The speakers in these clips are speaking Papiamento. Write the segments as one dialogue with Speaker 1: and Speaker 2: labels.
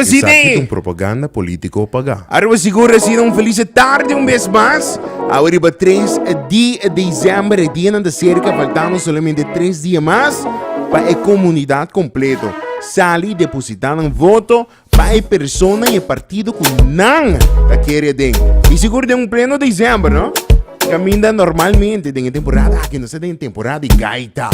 Speaker 1: Esaki ta un propaganda politico pagá. Aruba Sigur asina un felise tarde un bes mas. Awe riba tres di december e dianan ta cerca faltando solamente tres dia mas pa e comunidad completo sali deposita nan voto pa e persona y e partido cu nan ta kere aden y sigur den un pleno december no. Caminda normalmente den e temporada aki nos ta den temporada di gaita,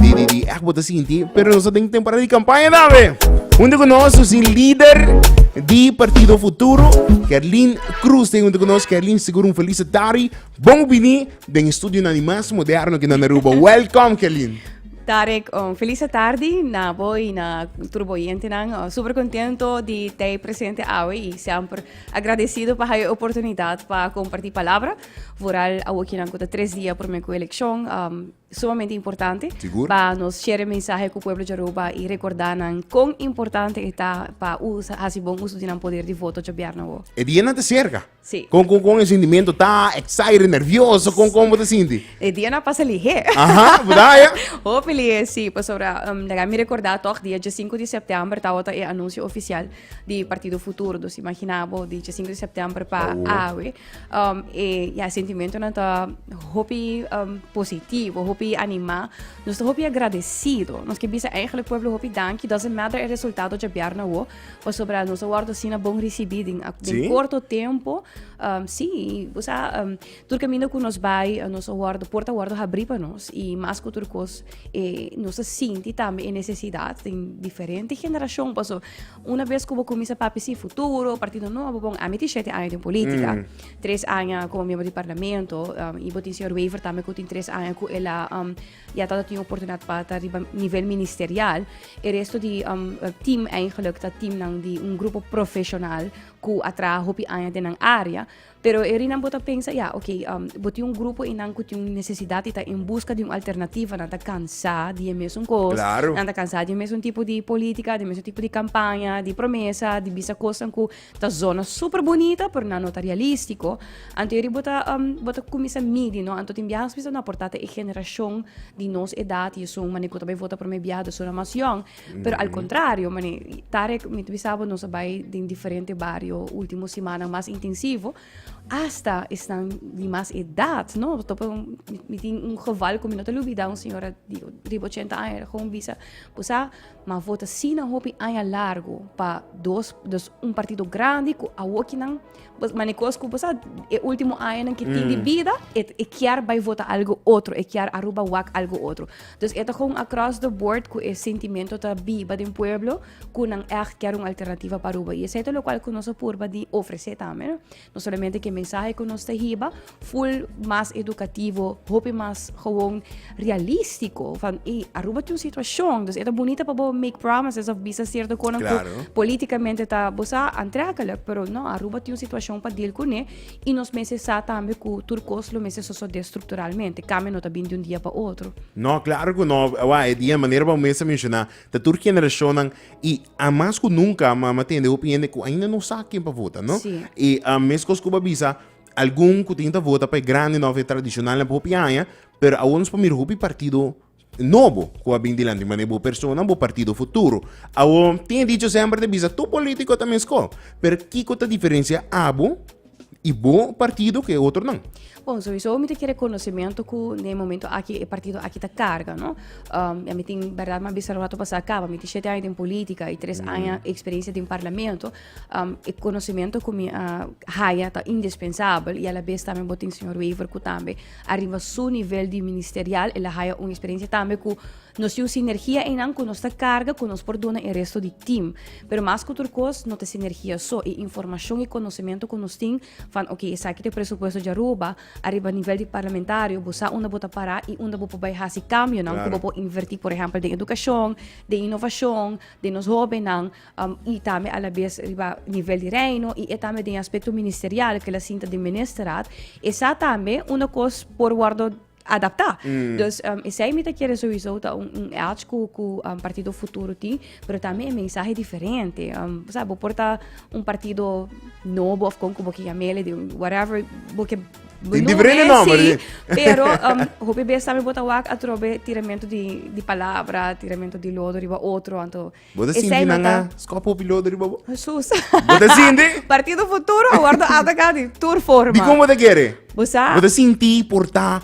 Speaker 1: di di di echt bo ta sinti, pero nos ta den temporada di campaña tambe. Junto con nos nos tin lider di Partido Futuro, Kerlin Croes, junto con nos Kerlin sigur un felicitari. Bon bini den e studionan di mas moderno aki nan Aruba. Welcome Kerlin. Tarek, un felice tardi na bo y na tur bo oyentenan. Super contento di t'ey presente awe y semper Agradecido pa hayo e oportunidad pa comparti palabra vooral awokinan cu ta tres dia prome cu eleccion um, sumamente importante Sigur. pa nos share mensaje cu pueblo Jaruba y recorda nan con importante eta pa usa hasi bon uso di nan poder di voto jabiarna wo. E dia na te cerca. Sí. Con, con, con e sentimiento ta excited, nervioso, con, con te sinti? E dia na pasa lihe. Aha, verdad ya? Hopi lihe, sí, pasobra um, daga mi recorda toch dia 15 de september ta wata e anuncio oficial di Partido Futuro dos imagina bo di 5 de septiembre pa oh. awe um, e ya sentimento na ta hopi um, positivo hopi anima nos ta hopi agradecido nos que bisa eigenlijk pueblo hopi danki doesn't matter el resultado de bjarna wo pasobra nos a wordo sina bon recibiding den sí? corto tempo um, sí usa um, Tur caminda cu nos bai, nos a wordo, puerta a wordo habri pa nos y mas cu tur cos e nos a sinti tambe e necesidad den diferente generacion paso una bes cu bo cuminsa papia si futuro, partido nobo, bon ami tin shete aña den politica, tres aña como miembro di parlamento y bo tin señor Wever tambe cu tin tres aña cu el a ya ta tin oportunidad pa ta riba nivel ministerial, e resto di team eigenlic ta teamnan di un grupo profesional cu a traha hopi aña den nan area, Pero e rinan bo ta pensa, ya, ok, bo tin un grupo einan ku tin un nesesidat i ta en buska di un alternativa, nan ta kansá di e mesun kos. Claro. Nan ta kansá di e mesun tipo di polítika, di e mesun tipo di kampaña, di promesa, di bisa kosnan ku ta zona súper bunita, pero nan no ta realístiko. Anto eri bo ta bo ta kuminsá midi, no. Anto tin biaha nos bisa no aportá ta e generashon di nos edat i esun manera ku ta bai vota promé biaha, ta suna mas yòn. Pero al contrario, mani, Tarek, mi bisa bo nos bai den diferente barrio último semana más intensivo, hasta están de más edad, no? Topa un, mi tin un geval con mi no te lo olvida, un señora di, di 80 años, gewoon bisa, busa, ma vota sina hopi aña largo pa dos, dos un partido grande cu awokinan Pues mane cos cu pues e ultimo año nan que mm. tiene vida, e, e kier bai vota algo otro, e kier aruba wak algo otro. Dus eta gewoon across the board cu e sentimento ta biba den pueblo, cu nan echt kier un alternativa para Aruba. Y es lo cual cu nos purba di ofrece también, no? no solamente que mensaje cu nos te hiba, Full mas educativo, hopi mas gewoon realistico. Van, hey, Aruba tiene un situación, dus eta bonita pa bo make promises of bisa cierto konan claro. políticamente ta bosa aantrekkelijk, pero no, Aruba tiene un situación pa deal con e, y nos mese sa tambe ku tur kos lo mese sosode estructuralmente, cambio no ta bin di un dia pa otro. No, claro ku no, wa, e dia manera pa mese menciona, ta tur generacionnan, y a mas ku nunca, ma, ma tende hopi hende ku ainda no sa ken pa vota, no? Sí. Y a mes kos ku bo bisa, algun ku tin ta vota pa e grandi nòf e tradishonalnan pa hopi aña, pero awor nos por mira hopi partido nobo ku a bin dilanti manera bo persona, bo partido futuro. Awor, tin e dicho semper ta bisa, tur polítiko ta meskó, pero kiko ta diferensia abo i bo partido ku e otronan? Bon, souiso mi ta kere konosementu ku den e momentu aki e partido aki ta karga, no? ya mi tin, bèrdat mi a bisa rato pasá akaba, mi tin shete aña den polítika i tres aña eksperensia den parlamento, um, e conocimiento cu mi a uh, haya ta indispensable y a la vez también botin señor Wever cu también arriba su nivel de ministerial el haya una experiencia también cu nos tiene sinergia en nan cu nos ta carga cu nos por dona el resto de team pero más que otra cosa no te sinergia so y información y conocimiento cu nos tin van ok esa que te presupuesto de Aruba arriba nivel de parlamentario bosa una bota para y una bopo bij hasi cambio nan claro. cu bopo invertir por ejemplo de educación de innovación de nos joven nan y tambe a la bes riba nivel di Reino y e tambe den e aspecto ministerial que la sinta den Ministerraad, esa tambe una cos por wordo adapta. Dus esey mi ta kere souiso ta un un edge cu cu Partido Futuro tin, pero tambe e mensahe diferente. bo sa bo por ta un partido nobo of con cu bo ke yamele di un whatever bo ke Tin diferente nomber benomen si, di. pero hopi bes tambe bo ta wak atrobe tiramento di di palabra, tiramento di lodo riba otro, anto Bo ta Esei sinti no nan ta- a skop hopi lodo riba bo? Jesus. Bo ta sinti? Partido futuro a wordo atacá di tur forma. Di kon bo ta kere? Bo sa, Bo ta sinti por ta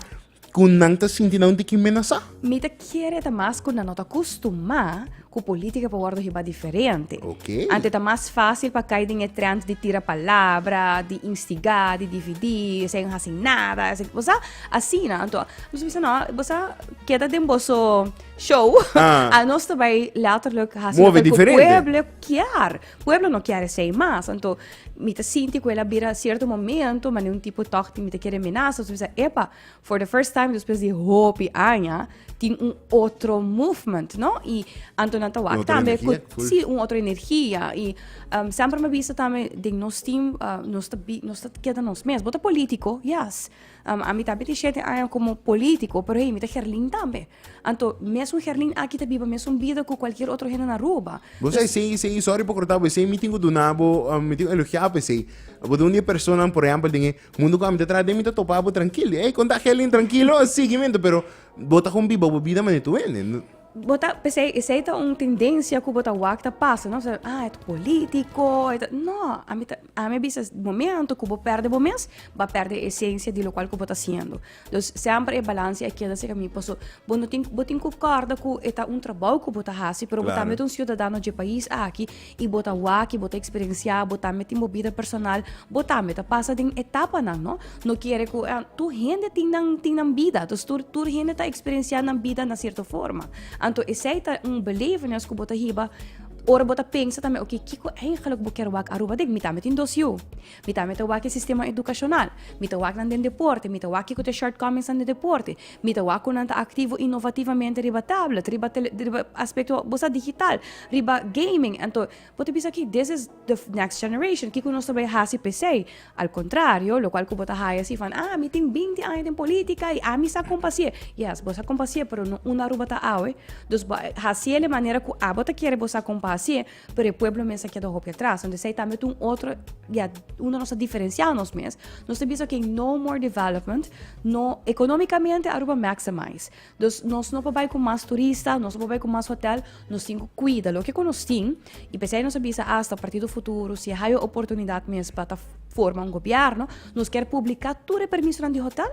Speaker 1: ku nan ta sinti nan tiki menasá? mi ta kere ta mas ku nan no ta kustumá ku polítika por wordo hiba diferente. Ok. Ante ta mas fásil pa kai den e trend di tira palabra, di instigá, di dividí, esei no hasi nada, esei, bo sa, asina. Anto nos bisa no, bo sa keda den boso. show. Ah. A nos te bai letterlijk hacer Move loco diferente. pueblo kier. Pueblo no kier sei mas. Anto, mi te sinti ku ela bira cierto momento, mane un tipo toch ti mi te kere menasa. So mi sa, epa, for the first time después di hopi aña, tin un otro movement, no? I anto nan ta Un wak otro tambe energia, ku, cool. si, un otro energia. I um, sempre me bisa tambe, den nos team, uh, nos ta, bi- nos ta keda nos mes. Bota político, yes. Um, ami ta biti shete aña como politico, pero hey, mi ta Gerlin tambe. Anto, mes un Gerlin aki ta biba mes un bida cu cualquier otro hende na Aruba. Bo sai, sei, sei, sorry por cortar bo, sei, mi tingo dunabo, um, mi tingo elogiar bo, sei. Bo un dia persona, por ejemplo, den mundo que ami ta trata, mi ta topa bo tranquilo. Hey, conta Gerlin tranquilo, seguimento, pero bo ta con biba bo vida manito wende. Bo ta p'esei esei ta un tendencia cu bo ta wak ta pasa no ta ah e ta politico e ta no ami ta ami a bisa momento cu bo perde bo mes ba perde e esencia di locual cu bo ta haciendo dus semper e balance a keda si caminda paso bo no tin bo tin cu corda cu e ta un trabou cu bo ta haci pero bo tambe ta un ciudadano dje pais aki I bo ta wak, bo ta eksperensiá, bo tambe tin bo bida personal, bo tambe ta pasa den etapanan, no? No kere ku a tur hende tin nan tin nan bida, dus tur tur hende ta eksperensiá nan bida na sierto forma. Anto esei ta un belevenis ku bo ta hiba ora bo ta pensa tambe oke kiko eigenlik bo kere wak Aruba den? Mi tambe tin dos yu, mi tambe ta wak e sistema edukashonal, mi ta wak nan den deporte, mi ta wak kiko ta e shortcomings nan den deporte. Mi ta wak ku nan ta aktivo inovativamente riba tablet, riba tele, riba aspekto bo sa digital, riba gaming. Anto bo ta bisa aki, this is the next generation, kiko nos ta bai hasi pesei. Al kontrario, lokual ku bo ta haña si van, ah mi tin binti aña den polítika i ami sa kon pa hasié. Yes, bo sa kon pa hasié, pero no un Aruba ta awe. Dus bo hasié de manera ku abo ta kere bo sa kon pa hasié. pero e pueblo mes a keda hopi atras anto esei tambe ta un otro ya unda nos ta diferencial nos mes nos ta bisa okay no more development no economicamente Aruba maximize dus nos no por bai cu mas turista nos no por bai cu mas hotel nos tin cu cuida loke cu nos tin y pesei nos a bisa asta partido futuro si haya oportunidad mes pa ta forma un gobierno nos kier publica tur e permisonan di hotel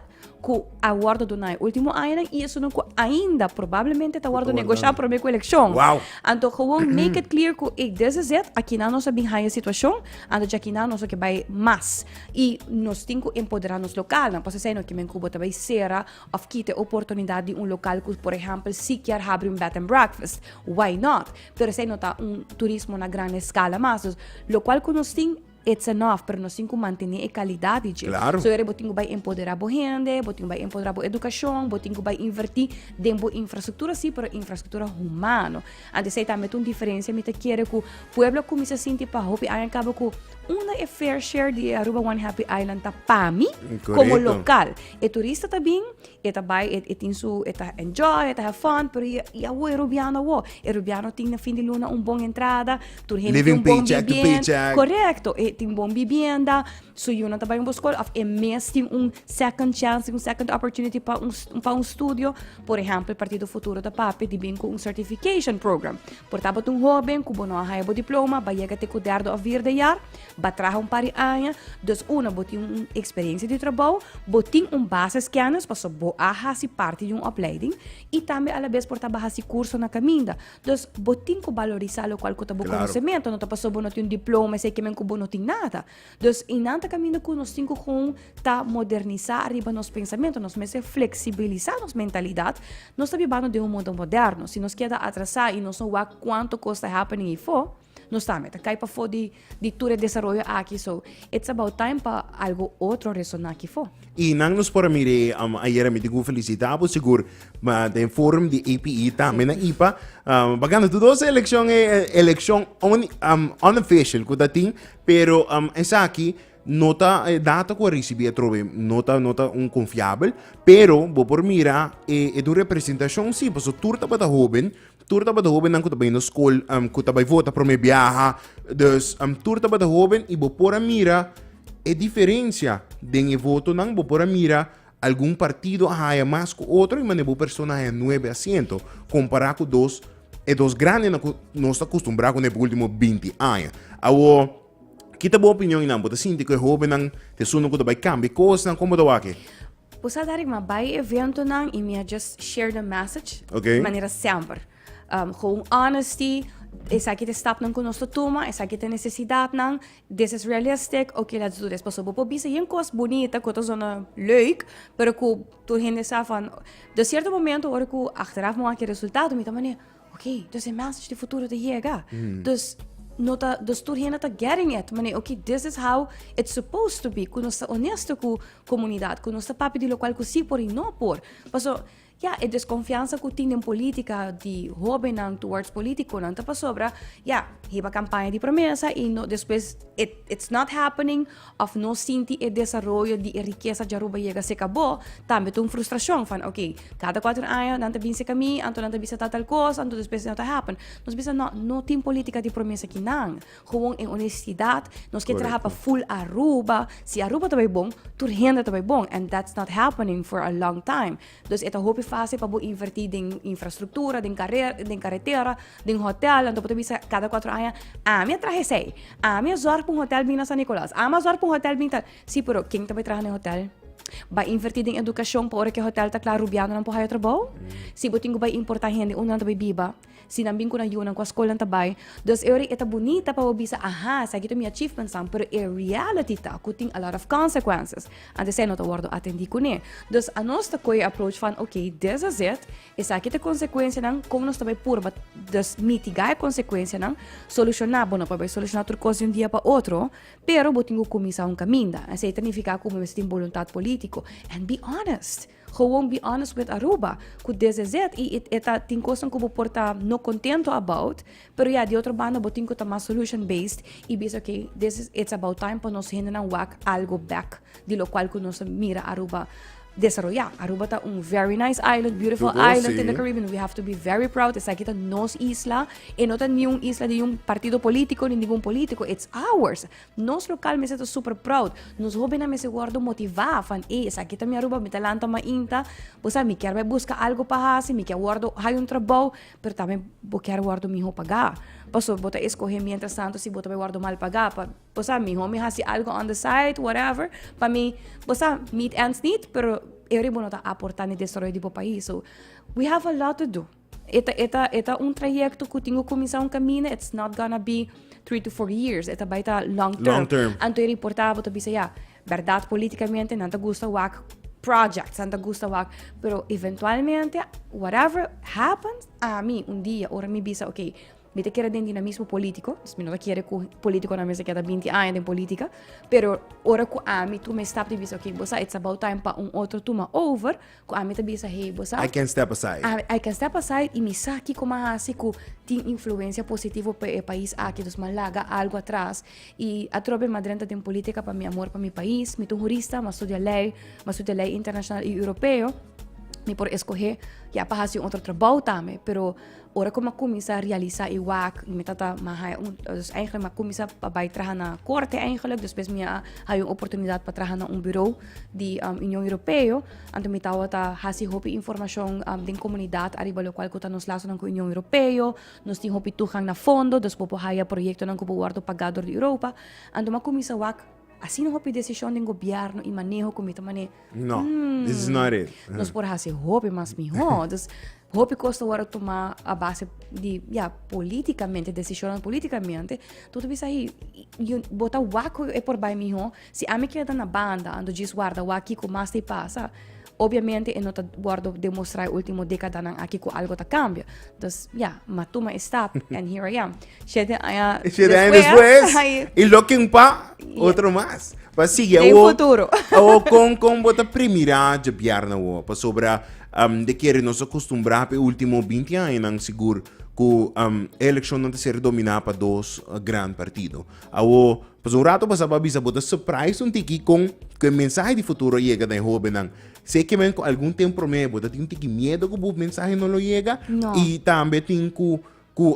Speaker 1: ku a wòrdu duna e último añanan i esun ku ainda probablemente ta wòrdu negosha promé ku elekshon. Wow. Anto gewoon make it clear ku ey this is it, akinan nos a bin haya situashon, anto dje akinan nos a ke bai mas. I nos tin ku empoderá nos lokalnan, pasobra esei no e ki men ku bo ta bai sera òf kita e oportunidat di un lokal ku por ehèmpel si kier habri un bed and breakfast, why not? Pero esei no ta un turismo na gran eskala mas, lokual ku nos tin, It's enough, pero nos tin cu mantene e calidad di dje. Claro. So ere bo tin cu bay empodera bo hende, bo tin cu bay empodera bo educacion, bo tin cu bay inverti den bo infrastructura si, pero infrastructura humano. Anto esey tambe ta un diferencia mi ta kere cu pueblo a cuminsa sinti pa hopi aña caba cu unda e fair share di e Aruba One Happy Island ta pa mi como Correcto. local. E turista ta bin E ta bai e e tin su e ta enjoy e ta have fun pero y y awo e rubiano awo e rubiano tin na fin di luna un bon entrada tur hende tin Living un bon paycheck to bibien- paycheck. correcto e tin bon bibienda su yu no ta bai un bo school of e mes tin un second chance tin un second opportunity pa un s- pa un studio por ehempel e partido futuro ta papia di bin cu un certification program por tabatin un hoben cu bo no a haya bo diploma bai yega te cu derdo of vierde jaar Ba traha un par di aña, dus una bo tin un eksperensia di trabou, bo tin un basis kennis pasobra bo a hasi parti di un opleiding i tambe alabes por ta ba hasi kurso na kaminda. Dus bo tin ku balorisá lokual ku ta bo konosementu, no ta pasobra bo no tin un diploma esei ke men ku bo no tin nada. Dus i nan ta kaminda ku nos tin ku kon ta modernisá ariba nos pensamentu, nos mester fleksibilisá nos mentalidat, nos ta bibando den un mundu moderno. Si nos keda atrasá i nos no wak kuantu kos ta happening hierfo, Nos sa mi ta kai pafó di di tur e desaroyo aki so it's about time pa algo otro resoná aki fo. Y nan nos por a mir'é um ayera mi digu felicita bo sigur ma den forum di APE tambe na ipa um pa gana tur dos e eleccion e eleccion un um unofficial cu ta tin pero um esaki no ta e data cu a ricibi atrobe no ta no ta un confiabel pero bo por mira e e ta un representacion si paso tur tabata hoben Tur tabata hobennan ku ta bai na skol ku ta bai vota promé biaha. Dus tur tabata hoben i bo por a mira e diferensia den e votonan. Bo por a mira algun partido a haya mas ku otro i manera bo persona a haya nuebe asiento kompará ku dos e dos grandenan ku nos ta kustumbrá kuné pa último binti aña. Awor. Kita bo opinion y nan. Bo ta sinti cu e hobennan ta esun cu ta bay cambia cosnan? Como bo ta wak e? Bo sa Derek ma bay eventonan y mi a just share the message okay. di manera semper um, gewoon honesty esaki ta stapnan cu nos ta tuma, esaki ta necesidadnan, this is realistic, ok let's do this. Paso bo por bisa yen cos bonita cu ta zona leuk, pero cu tur hende sa van, de cierto momento ora cu achteraf mi wak e resultado mi ta mane, Oké, dus e message di futuro ta yega. Dus no ta dus tur hende ta getting it. Mane, oké, this is how it's supposed to be. Ku nos ta onesto ku komunidat, ku nos ta papia di lokual ku si por i no por. Paso, ya, e deskonfiansa ku tin den politika di hobennan towards politikonan ta pasobra, ya, heba kampaña di promesa i no despues it it's not happening. òf no sinti e desaroyo di e rikesa Jaruba yega se kabó, tambe ta un frustrashon. Fan, ok, kada kuater aña nan ta bin seka mi, anto nan ta bisa tal tal kos, anto despues no ta hèpin. Nos bisa, nò, no tin polítika di promesa ki nan. Gewoon e onestidat, nos ke traha pa full Aruba. Si Aruba ta bai bon, tur hende ta bai bon, and that's not happening for a long time. Dus e ta hopi fásil pa bo invertí den infrastruktura, den den karetera, den hotèl. Anto bo ta bisa kada kuatro aña, ami a traha esei, ami a zòrg pa un hotèl bin na San Nikolas, ami a zòrg pa un hotèl bin tal. Sí, pero ken ta bai traha na e hotèl? Bai invertí den edukashon pa ora ku e hotèl ta kla rubianonan por haya trabou? Si bo tin ku bai importá hende, unda nan ta bai biba? Si nan bin ku nan yunan ku a skolnan ta bai, dus e ora e ta bunita pa bo bisa, aha, esaki ta mi achievementsnan, pero e reality ta ku tin a lot of consequences. Anto esei no ta wòrdu atendí kuné. Dus anos ta koe e approach van, ok, this is it, esaki ta konsekuensianan, kon nos ta bai purba dus mitigá e konsekuensianan, solushoná? Bo no por bai solushoná tur kos di un dia pa otro, pero bo tin ku kuminsá un kaminda. Esei ta nifiká ku bo mester tin boluntat polítiko. And be honest! Gewoon be honest with Aruba cu DZZ y y e ta tin cosnan cu bo por ta no contento about pero ya di otro banda bo tin cu ta mas solution based y bisa ok this is it's about time pa nos hendenan wak algo back di lo cual cu nos ta mira Aruba desaroya. Aruba ta un very nice island beautiful Tudu island in the si. Caribbean we have to be very proud esaki ta nos isla e no ta ni un isla di un partido politico ni ningun politico it's ours. Nos lokal mester ta super proud. Nos hobennan mester wordo motivá van ey esaki ta mi Aruba, mi ta lanta mainta, bo sa mi kier bai buska algo pa hasi, mi kier wordo hay un trabou, pero tambe bo kier wordo miho pagá. Paso bo ta escoge mientras tanto si bo ta bai wordo mal pagá pa bo sa miho mi hasi algo on the side whatever pa mi bo sa meet ends niet pero e hori bo no ta aportá na e destroyo di bo pais. So we have a lot to do. E ta, e ta, e ta un trayecto cu tin cu cuminsa un camina, it's not gonna be three to four years, e ta bai ta long term. Long term. Anto e reportaba ta bisa ya, verdad politicamente nan ta gusta wak projects, nan ta gusta wak, pero eventualmente, whatever happens, ami un dia, ora mi bisa, ok, mi ta kere den di na mismo politico, dus mi no ta kere cu politiconan mester keda binti aña den politica, pero ora cu ami tuma e stap di bisa, ok, bosa it's about time pa un otro tuma over, Ku ami ta bisa, Hey, bo sa? I can step aside. I can step aside i mi sa kiko m'a hasi ku tin influensia positivo pa e pais aki. Dus m'a laga algu atras. I atrobe m'a drenta den politika pa mi amor pa mi pais. Mi ta un hurista, m'a studia lei, m'a studia lei internashonal i europeo. Mi por eskohé ya pa hasi un otro trabou tambe, pero Ora ku mi a kuminsá realisá e wak i mi ta ta mi a haña un dus èinklik mi a kuminsá pa bai traha na korte èinklik despues mi a haña un oportunidat pa traha na un buro di Union Europeo anto mi tabata hasi hopi informashon den komunidat ariba lokual ku ta nos lasonan ku Union Europeo nos tin hopi tuhan na fondo dus bo por haña proyektonan ku por wòrdu pagá dor di Europa anto mi a kuminsá wak. Asina hopi decision den gobierno y maneho cu mi ta mane. No, hmm, this is not it. Nos por hace hopi mas mihor. dus hopi costa wara toma a base di, ja, politicamente, decisionan politicamente. Toto bisa hi, bota wako e por bai mihor. Si ami keda na banda, ando jis warda waki ku mas te pasa, Obviamente e no ta wordo demostra e ultimo decadanan aki cu algo ta cambia. Dus ya, ma tuma e stap and here I am. Siete aña Siete aña despues, y looking pa otro mas. Pa sigui Den awo, futuro. awo con, con bo ta primira dje bièrna awo? Pasobra um, de kere nos a costumbrá p'e ultimo binti añanan sigur cu um, e eleccionnan ta ser dominá pa dos gran partido. Awo, Pas un rato pasá pa bisa bo ta surprise un tiki kon ku e mensahe di futuro a yega na e hóbennan. Seki men ku algun tempu promé bo ta tin un tiki miedu ku bo mensahe no lo yega? No. I tambe tin ku ku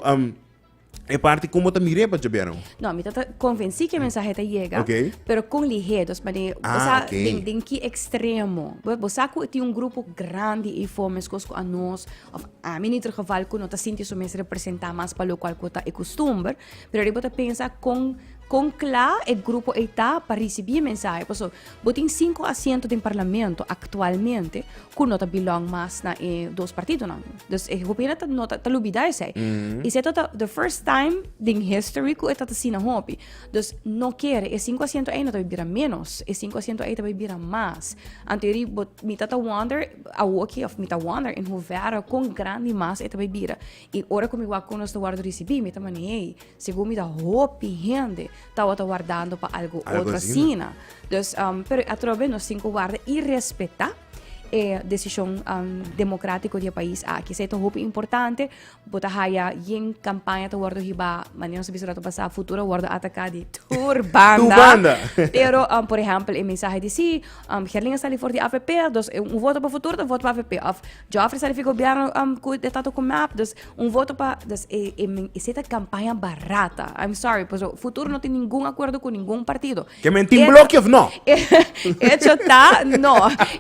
Speaker 1: e parti kon bo ta mir'é pa djob'é anó? No, mi ta ta konvensí ku e mensahe ta yega, Ok. pero kon lihé. Dòs manera i Ah, sa ok. den den ki ekstremo. Bo bo sa ku tin un grupo grandi eifò meskos ku anos òf ami, in ieder geval, ku no ta sinti su mes representá mas pa lokual ku ta e kustumber. Pero riba bo ta pensa con con cla e grupo ey ta pa ricibi e mensahe paso bo tin cinco asiento den parlamento actualmente cu no ta belong mas na e dos partidonan dus e hopi hende no ta lubida esey mm -hmm. esey ta the first time den history cu e ta asina hopi dus no kere e cinco asiento ey no ta bira menos e cinco asiento ey ta bay bira mas anteori bo mi ta ta wonder awoki of mi ta wonder en hoevera con grandi mas e ta bay bira I ora ku mi wak nos ta wòrdu risibí, mi ta mane'é segun mi ta hopi hende tawata wardando pa algu otro asina. Dus, pero atrobe nos tin ku warda i respetá e desishon demokratiko di e pais aki. Esei ta hopi importante. Bo ta haya yen kampaña ta wòrdu hibá, manera nos a bisa rato pasá, futuro a wòrdu ataká di tur banda. Pero, por ehèmpel e mensahe di sí, Herlin a sali for di avp, dus un voto pa futuro ta un voto pa avp. Òf. Jofrey sa di fi gobierno um cu e ta toco mep, dus un voto pa, dus e, e, men- ese ta campaña barata. I'm sorry, paso futuro no tin ningun acuerdo cu ningun partido. Que men tin E- blokje of no? Hecho ta, no.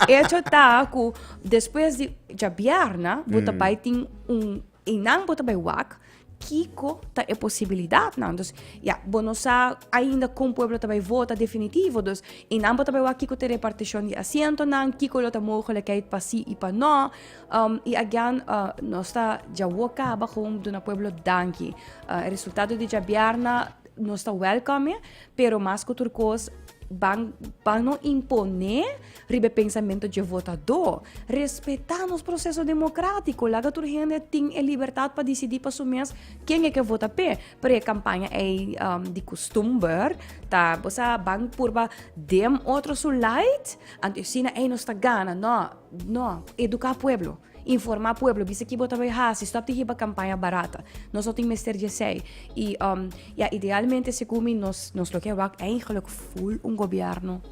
Speaker 1: Hecho ta cu despues di djabiarna, bo ta bai tin un, einan bo ta bai wak, Kiko ta e posibilidatnan? Dus, ya, bo no sa ainda kon pueblo ta bai vota definitivo. Dus, i nan bo ta bai wak kiko ta e repartishon di asientonan, kiko lo ta mogelikheid pa sí i pa nò. Um, i agian, uh, nos ta djawo kaba kon duna pueblo danki. Uh, e resultado di djabièrna nos ta wèlkòme, pero mas ku tur kos, ban, ban no imponé Riba e pensamentu dje votadó, respetá nos proseso demokratiko. Laga tur hende tin e libertat pa disidí pa su mes ken e ke vota p'e. Pero e kampaña ei um, di kustumber ta, bo sa, ban purba dem otro su lait, anto e asina ei nos ta gana. No, no, eduká pueblo. Informa pueblo, bisa ki bo ta bai hasi, stop di hiba campaña barata. Nos no tin mester di esey. Y um, ya idealmente segun mi nos, nos lo ke wak eigenlijk full un gobierno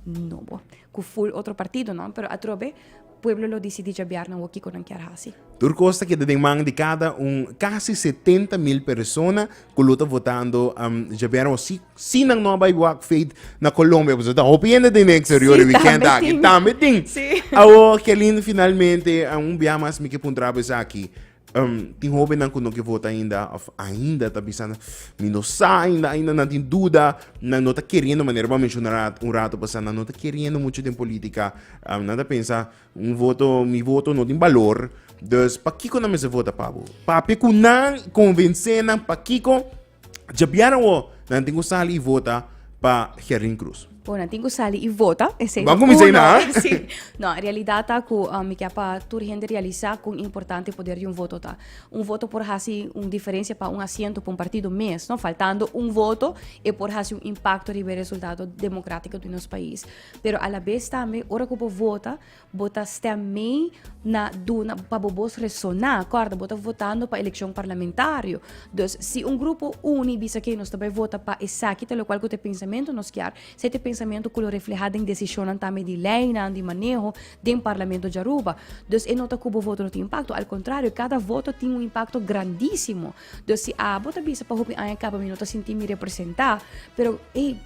Speaker 1: nobo, ku full otro partido no, pero atrobe pueblo lo disidi jabiar nan wak kiko nan kier hasi. Tur kos ta keda den man di kada un casi 70 mil persona ku lo ta votando um, jabiar wak si Si nan no a bai wak feet na Colombia, pasobra ta hopi hende den e eksterior e wikènt aki, tambe tin. Awor ke lindo finalmente, un biaha mas mi ke puntra bo esaki, tin hobennan ku no ke vota ainda òf ainda ta bisa mi no sa ainda, ainda nan tin duda, nan no ta keriendo manera bo a menshona un rato pasá, nan no ta keriendo muchu den polítika, nan ta pensa un voto, mi voto no tin balor, dus pakiko nan mester vota pa bo? Papia ku nan konvensé nan pakiko? Djabiera wo nan tin ku sali i vota pa Gerlin Cruz. Bo nan tin ku sali i vota. Ese Wan ku mi sei na? sí. No, realidad ta ku uh, mi kia pa tur hende realisa kon importante poder di un voto ta. Un voto por hasi un diferencia pa un asiento pa un partido mes, no? Faltando un voto, e por hasi un impacto riba e resultado democrático di nos país. Pero a la vez tambe, ora ku bo vota, Bo ta stem mee na duna pa bo bos resona. Corda, bo ta votando pa eleccion parlamentario. Dus si un grupo uni bisa que nos ta bai vota pa esaki ta lo cual cu te pensamento nos kier, se te pensamento cu lo refleha den decisionnan tambe di leinan, di maneho den parlamento di Aruba. Dus e no ta cu bo voto no tin impacto, al contrario, cada voto tin un impacto grandisimo Dos si abo ta bisa pa hopi aña kaba mi no ta sinti mi representá, pero ey,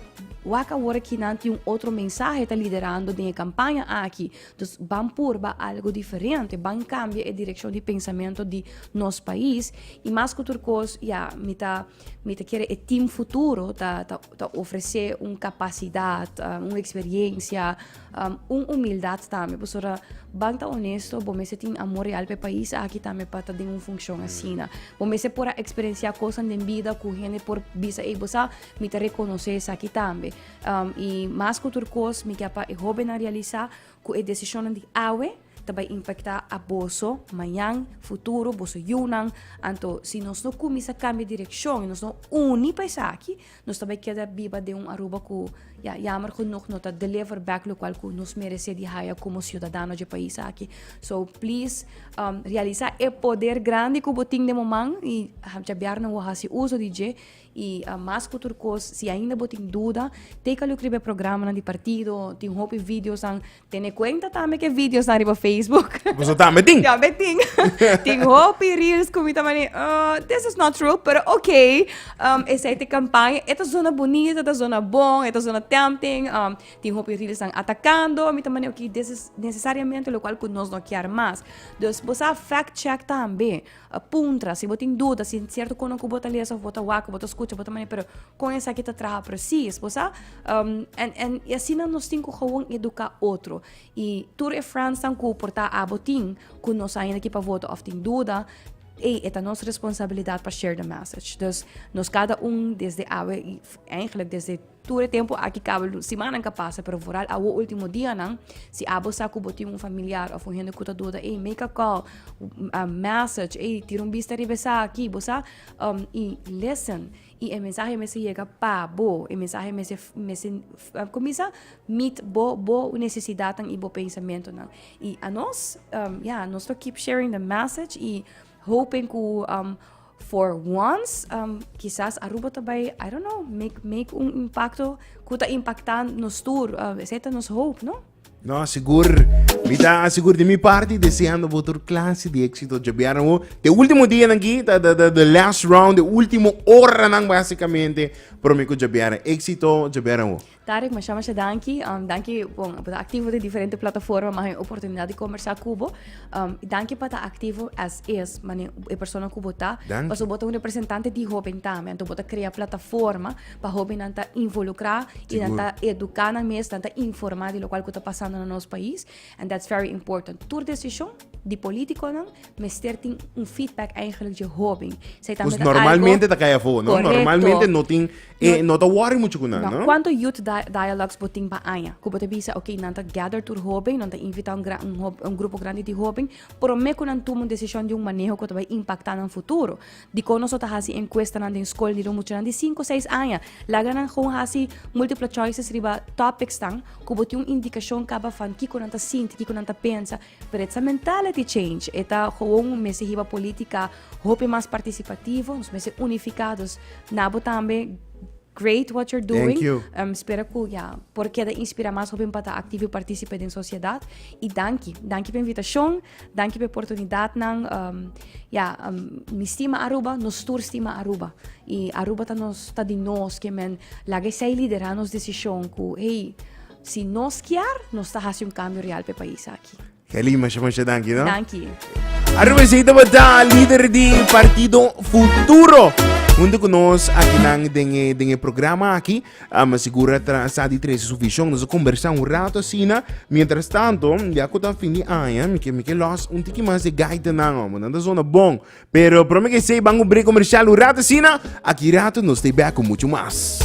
Speaker 1: wak awor aki nan tin un otro mensahe ta liderando den e kampaña aki. Dus ban purba algu diferente, ban kambia e direkshon di pensamentu di nos pais i mas ku tur kos, ya, mi ta mi ta kere e tim futuro ta ta ta ofresé un kapasidat, un eksperiencia, Um, un humildad tambe, pasobra ban ta honesto, bo mester tin amor real pe país aki tambe pa ta den un funcion mm. asina. Bo mester por a experiencia cosas den vida cu gente por bisa, ei, bo sa, mi te reconoce sa aquí tambe. Um, y más que tur cos, mi kia pa e joven a realiza cu e decision di awe, ta bai impactá aboso mañan, futuro, boso yunan. Anto si nos no cuminsa cambia direccion y nos no uni pa esaki, nos ta bai keda biba den un Aruba cu ya jammer genoeg no ta deliver back locual cu nos merece di haya como ciudadano dje pais aki. So please um, realisa e poder grandi cu bo tin den bo man y djabiarnan wo haci uso di dje y uh, mas cu tur cos si ainda bo tin duda, take a look riba e programanan di partido, tin hopi videosan, Tene cuenta tambe cu e videos nan riba Facebook. Boso tambe tin? Tambe tin. tin hopi reels cu mi ta mani, uh, this is not true, pero ok. Um, esai te campaña. E ta zona bonita, e ta zona bon, e ta zona tempting. Um, tin hopi reels nan atacando. Mi ta mani, ok, this is necesariamente lo cual cu nos no kier mas. Dus, bosa fact check tambe. A puntra, si bo tin duda si sierto kono ku bo ta lesa of bo ta wak, bo ta skucha, bo ta mane pero kon esaki ta traha presis, bo sa? en en i asina nos tin ku gewoon eduká otro. I tur e frènsnan ku por ta abo tin ku no sa ainda ki pa vota of tin duda, ei e ta nos responsabilidat pa share the message. Dus nos kada un desde awe i eigenlijk desde. Tur e tempu aki kaba luns. Simannan ka pasa, pero vooral awo ultimo dianan, si abo sa ku bo tin un familiar òf un hende ku ta doda, ey, make a call, a message, ey, tira un bista riba esaki, bo sa, um, i listen. I e mensahe mester yega pa bo, e mensahe mester, mester, kumisa, meet bo, bo nesesidatnan i bo pensamentunan. I anos, um, ya, nos lo keep sharing the message i hopen ku, um. For once, um, kisas Aruba ta bai, I don't know, make, make un impacto ku ta impacta nos tur, uh, esa ta nos hope, no? No, sigur. Mi ta sigur de mi parte deseando votor clase de éxito jabiaran o. De último día nan ki, ta the, the, the last round, de último hora nan basicamente. Promeco jabiaran éxito jabiaran o. Tarek masha masha danki um, danki bon bo ta aktivo den diferente plataforma ma hay oportunidat di konversá ku bo um, danki pa ta aktivo as is mane e persona ku bo ta Danki. paso bo ta un representante di hoben tambe anto bo ta krea plataforma pa hobennan ta involukrá i nan Sigur. ta eduká nan mes nan ta informá di lokual ku ta pasando na nos pais And that's very important. Tur decision di politiconan mester tin un feedback eigenlijk dje hoben. Zij ta met normalmente ta kaya voor, no? Correcto. Normalmente no tin, eh, no, no ta worry mucho con no, no? Cuánto youth di dialogues bo tin pa aña? Ku bo ta bisa, ok, nan ta gather tur hoben, nan ta invita un, gran, un, un grupo grande di hoben, prome ku nan tuma un decision di un maneho ku ta bai impacta nan futuro. Dikon nos lo ta hasi enkuestanan den skol riba muchanan di sinku seis aña? Laga nan gewoon hasi multiple choices riba topicsnan ku bo tin un indikashon kaba van kiko nan ta sinti, kiko nan ta pensa. Pero e ta mentality change. E ta gewoon un mester hiba politika hopi mas partisipativo, nos mester unifiká. Dus na bo tambe, great what you're doing. Thank you. Spera ku ya por keda inspirá mas hopinan pa ta aktivo i partísipe den sosiedat. I danki. Danki pa e invitashon. Danki p'e portunidat nan. Ya, mi stima Aruba, nos tur stima Aruba. I Aruba ta nos, ta di nos, ke men laga esei liderá nos desishon ku hey, si nos kier, nos ta hasi un kambio real p'e pais aki. Kelly, masha masha danki no. Danki. Aruba esei tabata lider di Partido Futuro huntu ku nos akinan den e programa aki. Ama si Gura ta sa di trece su vision, nos a combersa un rato asina. Mientras tanto, ya cu ta fin di aña, mi kier mi ke los un tiki mas e gaitanan, hombre. Nan ta zona bon. Pero prome ke esey ban cu break comercial un rato asina. Aki rato nos stay back cu mucho mas.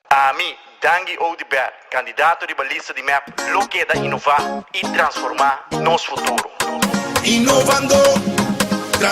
Speaker 1: Ami, Dangi Oudibert, candidato riba lista di mep, lo keda inova y transforma nos futuro.